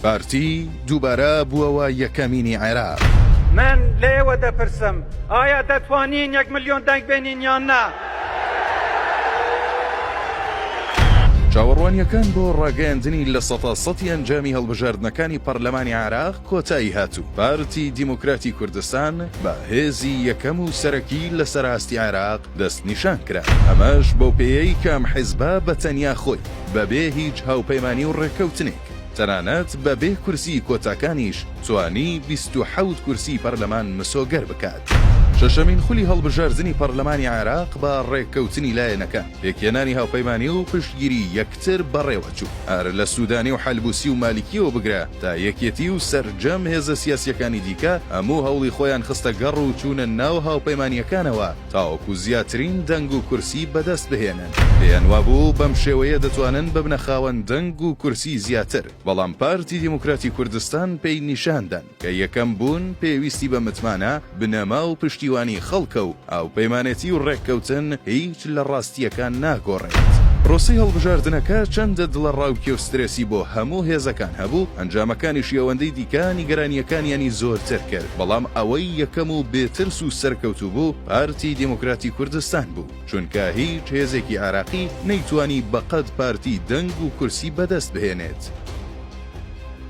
پارتی دووبارە بووەوە یەکەمینی عێراق. من لە ئێوە دەپرسم، ئایا دەتوانین یەک ملیۆن دەنگ بێنین یان نا؟ چاوەڕوانییەکان بۆ ڕاگەیاندنی لە سەتا سەتی ئەنجامی هەڵبژاردنەکانی پەرلەمانی عێراق کۆتایی هات و پارتی دیموکراتی کوردستان بە هێزی یەکەم و سەرەکی لەسەر ئاستی عێراق دەستنیشان کرا، ئەمەش بەو پێیەی کە ئەم حیزبە بە تەنیا خۆی بەبێ هیچ هاوپەیمانی و ڕێککەوتنێک تەنانەت بەبێ کورسی کۆتاکانیش توانی بیست و حەوت کورسی پەرلەمان مسۆگەر بکات. شەشەمین خولی هەڵبژاردنی پەرلەمانی عێراق بە ڕێککەوتنی لایەنەکان، پێکهێنانی هاوپەیمانی و پشتگیری یەکتر بەڕێوەچوو، هەر لە سوودانی و حەلبووسی و مالیکییەوە بگرە، تا یەکێتی و سەرجەم هێزە سیاسییەکانی دیکە هەموو هەوڵی خۆیان خستە گەڕ و چوونە ناو هاوپەیمانییەکانەوە تاوەکو زیاترین دەنگ و کورسی بەدەست بهێنن، پێیان وابوو بەم شێوەیە دەتوانن ببنە خاوەن دەنگ و کورسی زیاتر، بەڵام پارتی دیموکراتی کوردستان پێی نیشاندان کە یەکەم بوون پێویستی بە متمانە، بنەما و پشتیوانی خەڵکە و هاوپەیمانێتی و ڕێککەوتن هیچ لە ڕاستییەکان ناگۆڕێت. پرۆسەی هەڵبژاردنەکە چەندە دڵەڕاوکێ و سترێسی بۆ هەموو هێزەکان هەبوو، ئەنجامەکانیشی ئەوەندەی دیکە نیگەرانییەکانیانی زۆرتر کرد، بەڵام ئەوەی یەکەم و بێ ترس و سەرکەوتوو بوو پارتی دیموکراتی کوردستان بوو، چونکە هیچ هێزێکی عێراقی نەیتوانی بەقەد پارتی دەنگ و کورسی بەدەست بهێنێت.